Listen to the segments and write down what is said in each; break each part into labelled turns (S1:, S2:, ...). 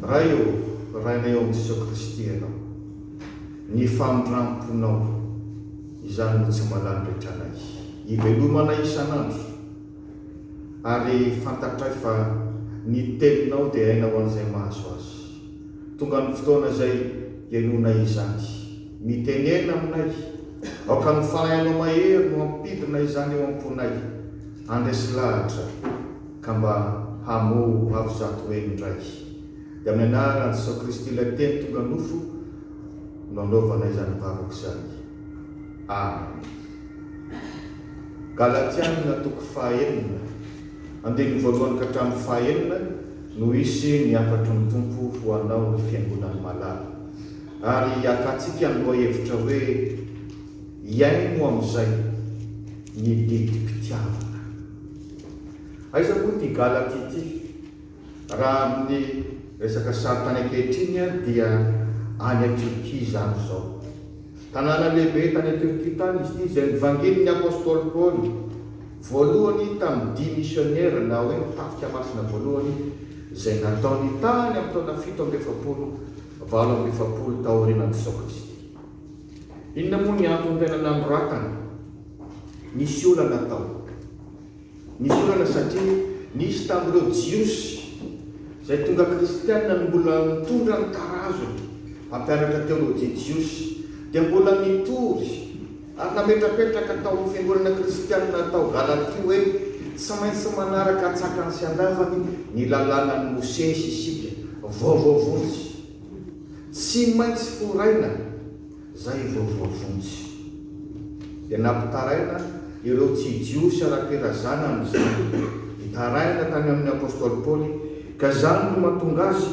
S1: Ray ô, Rainay ao amin'i Jesoa Kristy Ianao. Ny famindram-ponao, izany no tsy mba lanin-drehetra anay. Ivelomanay isan'andro, ary fantatray fa ny Teninao dia aina ho an'izay mahazo Azy. Tonga ny fotoana izay hihainoanay izany. Mitenena aminay, aoka ny fanahinao mahery no hampidina izany eo am-ponay. Handresy lahatra, ka mba hamoa ho avo zato heny indray. Dia amin'ny anaran'i Jesoa Kristy ilay Teny tonga nofo no anaovanay izany vavaka izany. Amena. Galatiana toko fahenina. Andininy voalohany ka hatramin'ny fahaenina no hisy ny hafatry ny Tompo ho anao ry fiangonan'i Malala. Ary hiakantsika ny lohahevitra hoe Hihaino amin'izay ny didim-pitiavana. Aiza moa ity Galaty ity? Raha amin'ny resaka sary tany ankehitriny dia any Atrika izany izao. Tanàna lehibe tany an-Turquie tany izy ity, izay nivangian'ny apostoly Paoly voalohany tamin'ny dia misionera na hoe ny tafika masina voalohany izay nataony tany amin'ny taona fito amby efapolo valo amby efapolo taorianan'i Jesoa Kristy. Inona moa ny antony tena nanoratana? Nisy olana tao. Nisy olana satria nisy tamin'ireo Jiosy izay tonga kristiana no mbola nitondra ny tarazony hampianatra teolojia jiosy, dia mbola nitory ary nametrapetraka tao amin'ny fiangonana kristiana tao Galatia hoe tsy maintsy manaraka an-tsakany sy an-davany ny Lalànan'i Mosesy isika, vaovao vonjy. Tsy maintsy foraina Zay vao voavonjy. Dia nampitaraina ireo tsy Jiosy ara-pirazana amin'izany. Nitaraina tany amin'ny apostoly Paoly ka izany no mahatonga azy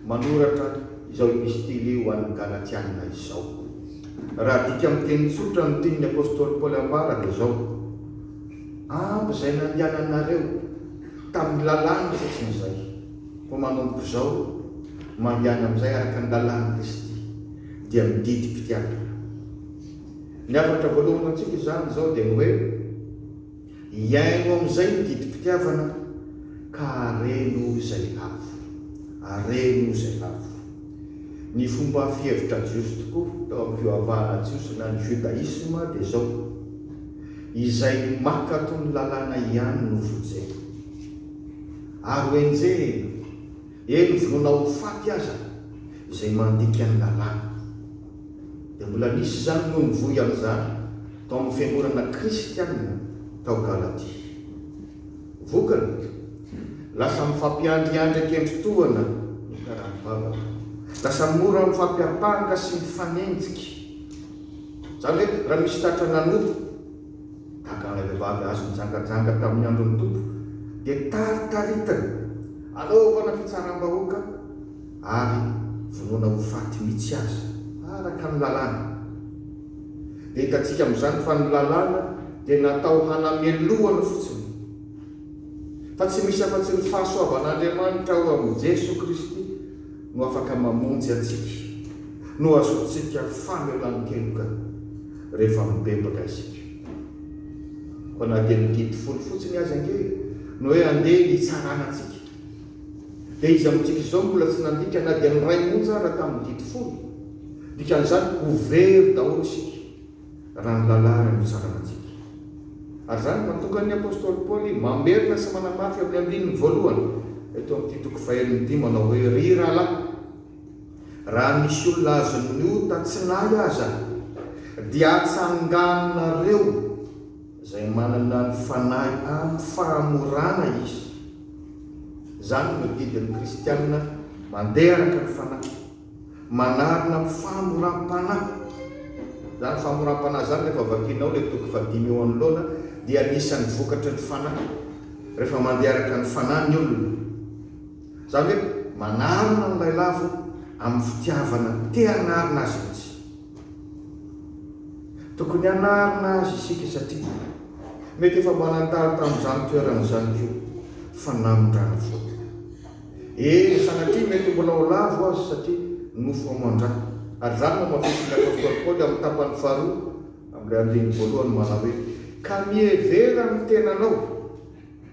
S1: manoratra izao epistily ho an'ny Galatiana izao. Raha adika amin'ny teny tsotra ny tian'ny apostoly Paoly ambara dia izao, Ampy izay nandehananareo tamin'ny lalàna sy tsy ny izay, fa manomboka izao mandehana amin'izay araka ny lalàn'i Kristy. dia ny didim-pitiavana. Ny hafatra voalohany ho antsika izany izao dia ny hoe, hiaino amin'izay ny didim-pitiavana ka hareno izay lavo. Hareno izay lavo. Ny fomba fihevitra jiosy tokoa tao amin'ny fivavahana jiosy na ny jodaisma dia izao, izay mankato ny lalàna ihany no vojeina. Ary ho enjehina. Eny vonoina ho faty aza izay mandika ny lalàna. Dia mbola nisy izany no nivoy amin'izany tao amin'ny fiangonana kristianina tao Galatia. Vokany, lasa mifampiandriandry an-kendry tohana ny karaham-bavaka. Lasa mora mifampiampanga sy mifanenjika. Izany hoe raha misy tratra nanompo. Tahaka an'ilay vehivavy azo nijangajanga tamin'ny andron'ny Tompo, dia taritaritany hanaovana fitsaram-bahoaka ary vonoina ho faty mihitsy aza, araka ny Lalàna. Dia hitantsika amin'izany fa ny Lalàna dia natao hanamelohana fotsiny, fa tsy misy afa-tsy ny fahasoavan'Andriamanitra ao amin'i Jesoa Kristy. no afaka mamonjy antsika, no azontsika famelan-keloka rehefa mibebaka isika. Koa na dia ny didy folo fotsiny aza ange no hoe andeha hitsarana antsika, dia iza amintsika izao no mbola tsy nandika na dia ny iray monja aza tamin'ny didy folo? Dikan'izany ho very daholo isika. raha ny lalàna no tsarantsika. Ary izany no mahatonga ny apostoly Paoly mamerina sy manamafy amin'ny andininy voalohany eto amin'ity toko fahenina ity manao hoe, Ry rahalahy, raha misy olona azon'ny ota tsy nahy aza, dia atsanganinareo izay manana ny fanahy amin'ny fahamorana izy. Izany no didin'ny kristiana mandeha araka ny fanahy. Manarina famoram-panahy. Izany famoram-panahy izany rehefa vakianao ilay toko fahadimy eo anoloana dia anisan'ny vokatry ny fanahy. Rehefa mandeha araka ny fanahy ny olona. Izany hoe manarina ny lailavo amin'ny fitiavana te hanarina azy mihitsy. Tokony hanarina azy isika satria mety efa mba nataly tamin'izany toerana izany koa fa namindrana foana. Eny, sanatria mety mbola ho lavo aza satria nofo aman-dra. Ary izany no hamafisin'ny apostoly Paoly amin'ny tapany faharoa amin'ilay andininy voalohany manao hoe, Ka mihevera amin'ny tenanao,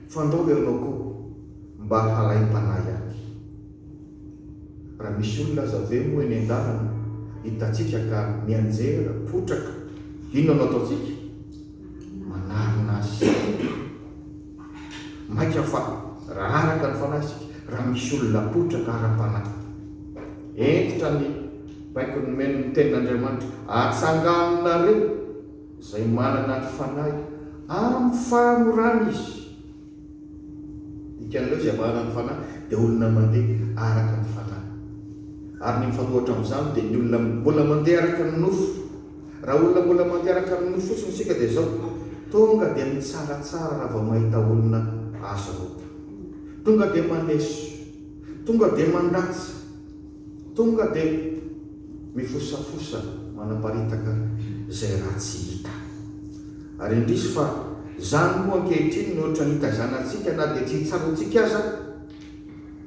S1: fandrao ianao koa mba halaim-panahy ahy. Raha misy olona aza ve moa eny an-dalana hitantsika ka mianjera, potraka, inona no ataontsika? Manarina azy. Maika fa raha araka ny fanahy isika, raha misy olona potraka ara-panahy, hentitra ny baiko nomeny ny Tenin'Andriamanitra, atsanganinareo izay manana ny fanahy amin'ny fahamorana izy. Dikan'ireo izay manana ny fanahy dia olona mandeha araka ny fanahy. Ary ny mifanohitra amin'izany dia ny olona mbola mandeha araka ny nofo. Raha olona mbola mampiaraka amin'ny nofo fotsiny isika dia izao, tonga dia mitsaratsara raha vao mahita olona azo rota. Tonga dia maneso. Tonga dia mandatsa. Tonga dia mifosafosa manaparitaka izay ratsy hita. Ary indrisy fa izany moa ankehitriny no ohatran'ny hitaizana antsika na dia tsy hitsara antsika aza.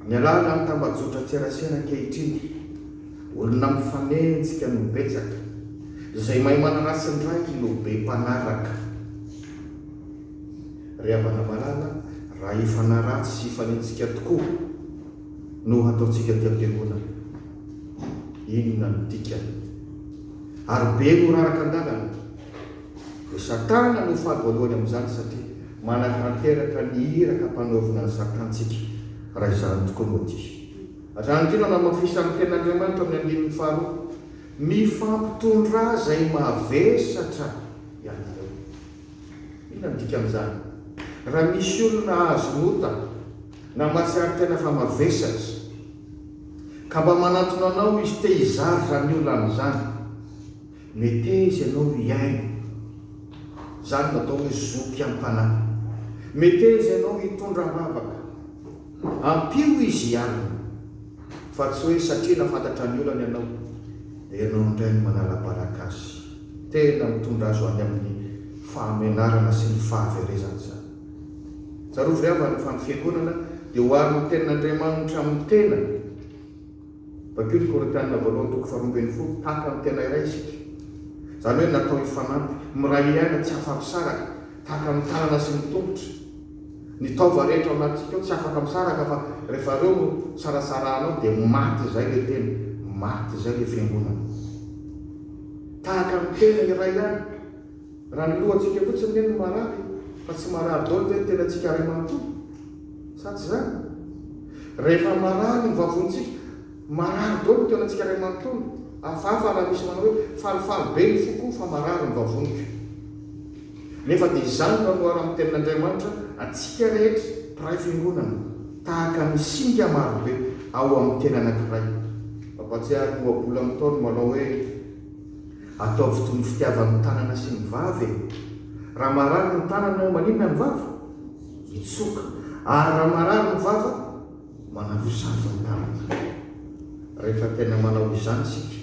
S1: Mialàla ny tambajotran-tserasera ankehitriny, olona mifanenjika no betsaka, izay mahay manaratsy ny raiky no be mpanaraka. Ry havana malala, raha hifanaratsy sy hifanenjika tokoa no hataontsika aty am-piangonana, inona no dikany? Ary be no raraka an-dalana. Dia Satana no faly voalohany amin'izany satria manatanteraka ny iraka ampanaovina an'i Satan tsika raha izany tokoa no dihy. Raha ndry no anamafisan'ny Tenin'Andriamanitra amin'ny andininy faharoa, mifampitondrà izay mavesatra ianareo. Inona no dikan'izany? Raha misy olona azony ota na mahatsiaro tena fa mavesatra, ka mba manantona anao izy te hizara izany olany izany, Metez ianao hihaino. Izany no atao hoe zoky am-panahy. Metez ianao hitondra am-bavaka. Ampio izy hialona. Fa tsy hoe satria nafantatra ny olany ianao, dia ianao indray no manala-baraka azy. Tena mitondra azy ho any amin'ny fahamenarana sy ny fahaverezana izany. Tsarovy ry havana fa ny Fiangonana dia oharin'ny Tenin'Andriamanitra amin'ny tena. Vakio ny Korintiana voalohany toko faharoa ambin'ny folo, tahaka amin'ny tena iray isika, izany hoe natao hifanampy, miray aina tsy afa-misaraka, tahaka ny tanana sy ny tongotra. Ny taova rehetra ao anatintsika ao tsy afaka misaraka fa rehefa ireo no sarasarahanao dia maty izay ilay tena, maty izay ilay fiangonana. Tahaka ny tena iray ihany. Raha ny lohantsika fotsiny ve no marary fa tsy marary daholo ve ny tenantsika iray manontolo? Sa tsy izany? Rehefa marary ny vavontsika, marary daholo ny tenantsika iray manontolo. Hafahafa raha misy manao hoe, falifaly be ny foko fa marary ny vavoniko. Nefa dia izany no hanohara amin'ny Tenin'Andriamanitra antsika rehetra mpiray fiangonana, tahaka ny singa marobe ao amin'ny teny anankiray. Mampahatsiahy ny ohabolan'ny Ntaolo malao hoe. Ataovy toy ny fitiavan'ny tanana sy ny vava e! Raha marary ny tanana ao maninona ny vava? Mitsoka. Ary raha marary ny vava? Manavosavo ny tanana. Rehefa tena manao izany isika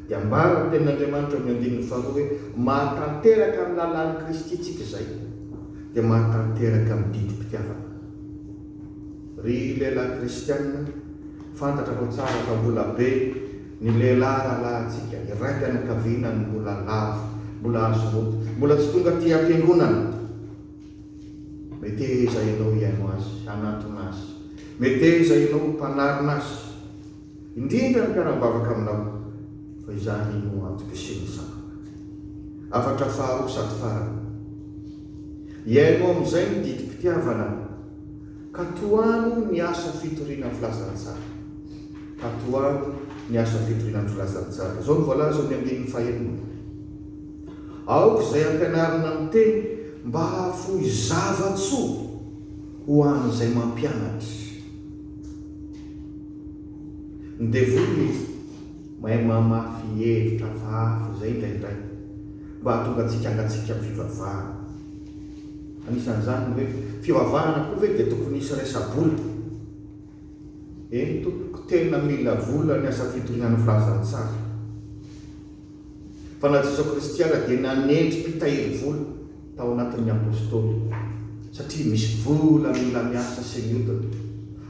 S1: dia ambaran'ny tenin'Andriamanitra ao amin'ny andininy faharoa hoe mahatanteraka amin'ny lalàn'i Kristy isika izay dia mahatanteraka ny didim-pitiavana. Ry lehilahy kristiana, fantatra fa tsara fa mbola be. Ny lehilahy rahalahintsika, ny raim-pianakaviana no mbola lavo, mbola azo roto, mbola tsy tonga aty am-piangonana. Meteza ianao hihaino azy, hanatona azy. Meteza ianao ho mpanarina azy, indrindra ny mpiara-mivavaka aminao, fa izany no antom-pisian'ny sampana. Hafatra faharoa sady farany. Hihaino amin'izay ny didim-pitiavana. Katoano ny asa fitoriana filazantsara. Katoano ny asa fitoriana ny filazantsara. Izao no voalaza eo amin'ny andininy fahenina, Aoka izay ampianarina ny teny mba hahafoy zava-tsoa ho an'izay mampianatra. Ny devoly izy mahay mamafy hevitra hafahafa izay indraindray mba hahatonga antsika hangatsiaka amin'ny fivavahana. Anisan'izany ny hoe, fivavahana koa ve dia tokony hisy resa-bola? Eny tompoko, tena mila vola ny asa fitorian'ny filazantsara. Fa na Jesoa Kristy ara dia nanendry mpitahiry vola tao anatin'ny Apostoly, satria misy vola mila miasa sy miodina.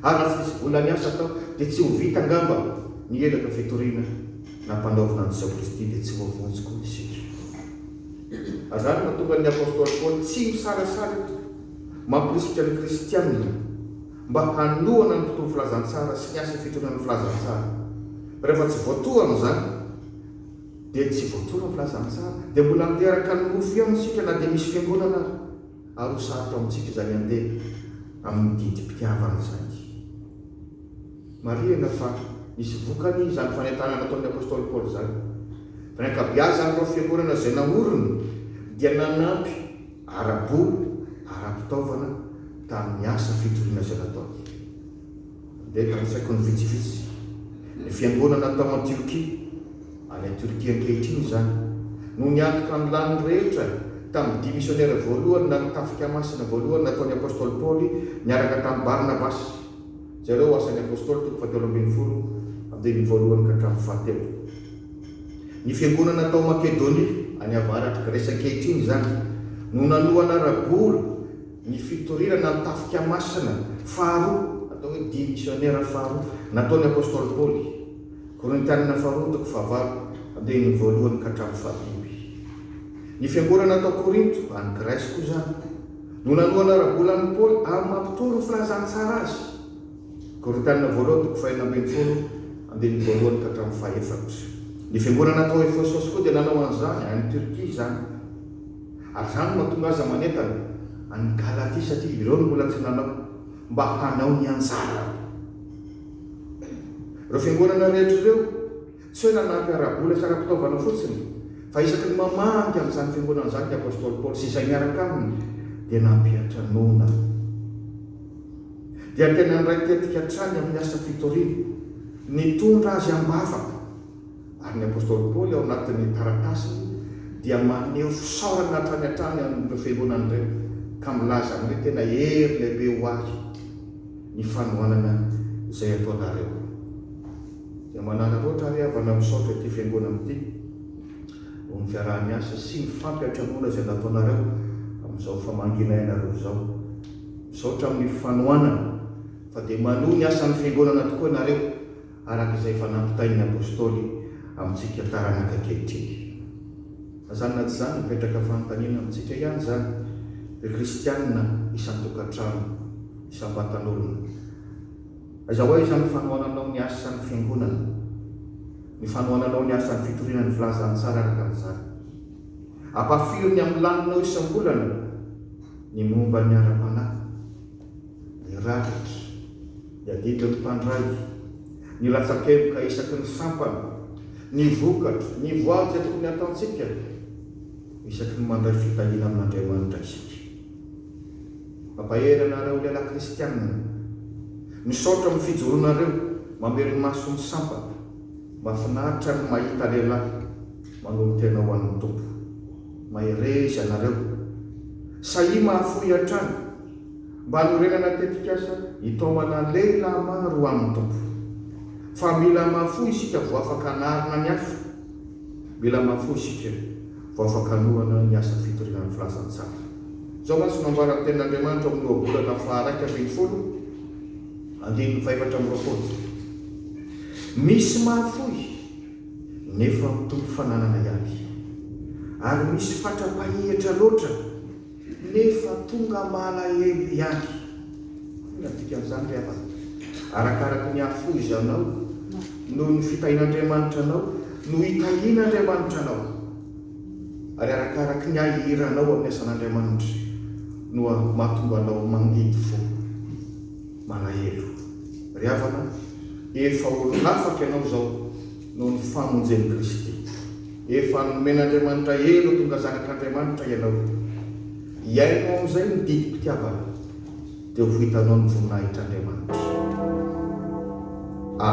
S1: Ary raha tsy misy vola miasa atao dia tsy ho vita angamba ny elaka fitoriana nampanaovina an'i Jesoa Kristy dia tsy ho vonjy koa isika. Azany no mahatonga ny apostoly Paoly tsy misalasala eto mampirisika ny kristiana mba hanohana ny tontolo filazantsara sy ny asa fitondrana filazantsara. Rehefa tsy voatohana izany dia tsy voatohana ny filazantsara dia mbola miteraka ny nofo ihany isika na dia misy fiangonana ary. Ary ho sarotra amintsika izany handeha amin'ny didim-pitiavana izany. Marihina fa nisy vokany izany fanentanana nataon'ny apostoly Paoly izany, fa ny ankabeazan'ireo fiangonana izay naoriny dia nanampy ara-bola, ara-pitaovana tamin'ny asa fitoriana izay nataony. Nandeha tamin'ny faikony vitsivitsy ny fiangonana tao Antiokia, any Torkia ankehitriny izany, no niantoka ny laniny rehetra tamin'ny dimy misionera voalohany na ny Tafika Masina voalohany nataon'ny apostoly Paoly niaraka tamin'i Barnabasy. Jereo Asan'ny Apôstôly toko fahatelo ambin'ny folo, andininy voalohany ka hatramin'ny fahatelo. Ny fiangonana tao Makedônia any avaratr'i Gresy ankehitriny izany no nanohana ara-bola ny fitorirana ny Tafika Masina faharoa, atao hoe Dihy Misiônera faharoa, nataon'ny Apôstôly Paoly. Korintianina faharoa toko fahavalo, andininy voalohany ka hatramin'ny fahadimy. Ny fiangonana tao Korinto, any Gresy, koa izany. No nanohana ara-bola an'i Paoly amin'ny maha mpitory ho filazana tsara azy. Korinthiana voalohany toko fahenina ambin'ny folo, andininy voalohany ka hatramin'ny fahefatra. Ny fiangonana tao Efesosy koa dia nanao an'izany, any Turquie izany. Ary izany no mahatonga azy manentana an'i Galatia satria ireo no mbola tsy nanao, mba hanao ny anjarany. Ireo fiangonana rehetra ireo. Tsy hoe nanampy ara-bola sy ara-pitaovana fotsiny, fa isaky ny mamangy an'izany fiangonana izany ny apostoly Paoly sy izay miaraka aminy, dia nampiantra noana. Dia tena niray tetika hatrany amin'ny asa fitoriana. Nitondra azy am-bavaka. Ary ny apostoly Paoly ao anatin'ny taratasiny dia maneho fisaorana hatrany hatrany amin'ireo fiangonana ireo, ka milaza aminy hoe tena hery lehibe ho ahy ny fanohanana izay ataonareo. Dia manaraka ohatra ary havana misaotra ity fiangonana ity noho ny fiaraha-miasa sy ny fampiantranoana izay nataonareo amin'izao famangiana ianareo izao. Misaotra amin'ny fanohanana fa dia manohy ny asan'ny fiangonana tokoa ianareo araka izay efa nampitain'ny Apostoly amintsika taranaka ankehitriny. Na izany na tsy izany mipetraka fanontaniana amintsika ihany izany ry kristianina isan-tokantrano, isam-batan'olona. Aiza ho aiza ny fanohananao ny asa ny Fiangonana? Ny fanohananao ny asan'ny fitoriana ny Filazantsara araka ny zara. Ampahafiry ny amin'ny laninao isam-bolana ny momba ny ara-panahy, ny rakitra, ny adidin'ny mpandray, ny latsa-kevoka isaky ny sampana, ny vokatra, ny voady izay tokony hatantsika isaky ny mandray fitahiana amin'Andriamanitra isika? Mampahery anareo lehilahy kristianina. Misaotra amin'ny fijoroanareo mamelomaso ny sampana. Mahafinaritra ny mahita lehilahy manolo-tena ho an'ny Tompo. Mahereza ianareo. Sahia mahafoy hatrany mba hanorenana tetikasa hitaomana lehilahy maro ho amin'ny Tompo. Fa mila mahafoy isika vao afaka hanarina ny hafa. Mila mafy fo isika vao afaka hanohana ny asa fitoriana ny filazantsara. Izao mantsy no ambaran'ny Tenin'Andriamanitra ao amin'ny ohabolana faharaika ambin'ny folo, andininy fahefatra amby roapolo, Misy mahafoy, nefa mitombo fananana ihany, ary misy fatra-pahihitra loatra. nefa tonga malahelo ihany. Inona no dikan'izany ry havana? Arakaraky ny hafoizanao noho ny fitahian'Andriamanitra anao no hitahian'Andriamanitra anao, ary arakaraky ny ahiranao amin'ny asan'Andriamanitra no mahatonga anao mangidy fo, malahelo. Ry havana, efa olon-afaka ianao izao. noho ny famonjen'i Kristy. Efa nomen'Andriamanitra hery ho tonga zanak'Andriamanitra ianao. Iaino amin'izay ny didim-pitiavana, dia ho hitanao ny voninahitr'Andriamanitra. A.